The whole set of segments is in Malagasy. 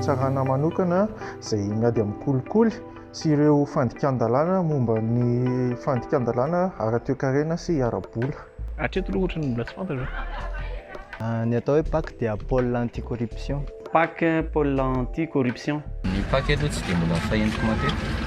fitsarana manokana izay miady amin'ny kolikoly sy ireo fandikan-dalàna momba ny fandikan-dalàna ara-toekarena sy ara-bola. Hatreto aloha ohatran'ny mbola tsy fantatro. Ah, ny atao hoe PAC dia pôle anti-corruption. PAC, pôle anti-corruption. Ny PAC aloha tsy dia mbola fahenoko matetika.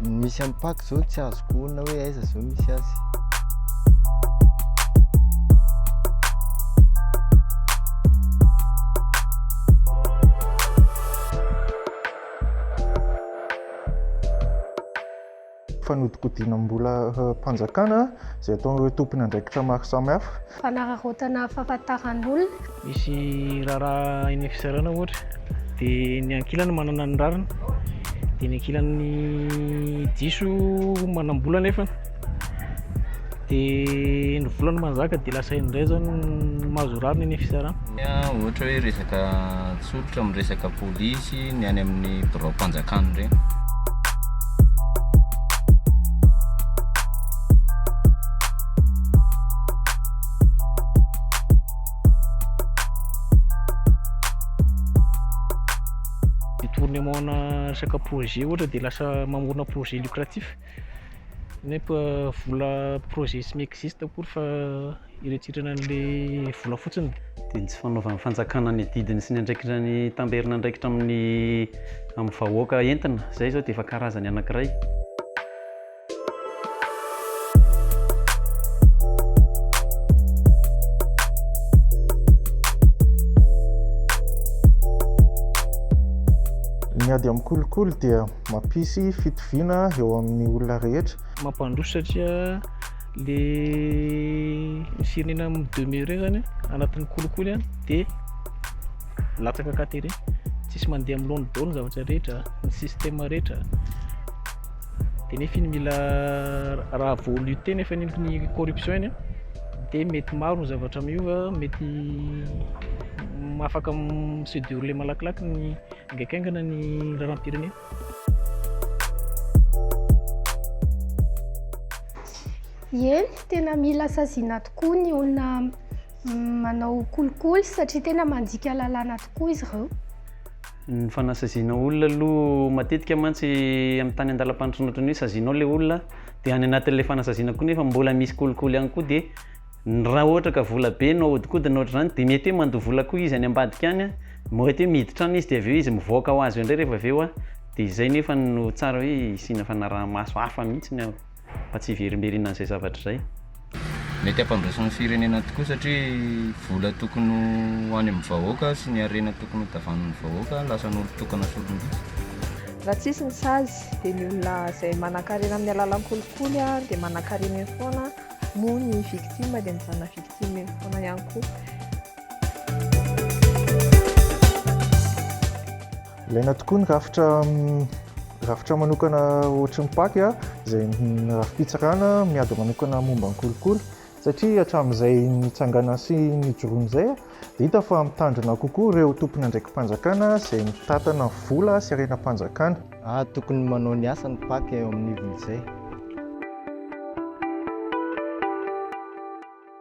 Misy amin'ny pack zao tsy azoko honona hoe aiza zao misy azy. fanodikodinam-bolam-panjakana izay ataon'ireo tomponandraikitra maro samihafa. Fanararaotana fahafantaran'olona. Misy raharaha eny amin'ny fitsarana ohatra dia ny ankilany manana ny rariny dia ny ankilan'ny diso manam-bola nefa dia ny vola no mahazaka dia lasa indray izany mahazo rariny eny amin'ny fitsarana. Ohatra hoe resaka tsolotra amin'ny resaka polisy ny any amin'ny biraom-panjakana ireny. Détournement-na resaka projet ohatra dia lasa mamorona projet lucratif. Nefa vola projet tsy mi-existe akory fa iretsitrana an'ilay vola fotsiny. Dia ny tsy fanaovan'ny fanjakana ny adidiny sy ny andraikitra ny tamberina andraikitra amin'ny amin'ny vahoaka entina. Izay izao dia efa karazany anankiray. Ny ady amin'ny kolikoly dia Mampisy fitoviana eo amin'ny olona rehetra. Mampandroso satria le firenena mi demeurer zany anatin'ny kolikoly an de latsaka akaty ery. Tsisy mandeha amin'ny laoniny daholo ny zavatra rehetra, ny système rehetra. De nefa iny mila raha vao lutter nefa iny amin'ny corruption iny de mety maro ny zavatra miova, mety afaka mi se derouler malakilaky ny. Haingaikaingana ny raharaham-pirenena. Eny, tena mila saziana tokoa ny olona manao kolikoly satria tena mandika lalàna tokoa izy ireo. Ny fanasaziana olona aloha matetika mantsy amin'ny tany an-dalam-pandrosoana ohatran'ny hoe sazianao ilay olona dia any anatin'ilay fanasaziana koa nefa mbola misy kolikoly ihany koa dia Ny raha ohatra ka vola be no ahodikodina ohatr'izany dia mety hoe mandoa vola koa izy any ambadika any mety hoe mihidy trano izy dia avy eo izy mivoaka ho azy eo indray rehefa avy eo dia izay nefa no tsara hoe hisiana fanaraha-maso hafa mihitsy ny ao mba tsy hiverimberiana an'izay zavatra izay. Mety hampandroso ny firenena tokoa satria vola tokony ho any amin'ny vahoaka sy ny harena tokony ho tavanin'ny vahoaka lasa an'olon-tokana sy olom-bitsy. Raha tsisy ny sazy dia ny olona izay manankarena amin'ny alalan'ny kolikoly ary dia manankarena eny foana moa ny victime dia mijanona victime eny foana ihany koa. Ilaina tokoa ny rafitra rafitra manokana ohatry ny paky izay rafi-pitsarana miady manokana momba ny kolikoly satria hatramin'izay nitsangana sy nijoroana izay Hita fa mitandrina kokoa ireo tompon'andraiki-panjakana izay mitantana vola sy harenam-panjakana. A, Tokony manao ny asany ny pac eo amin'ivon'izay.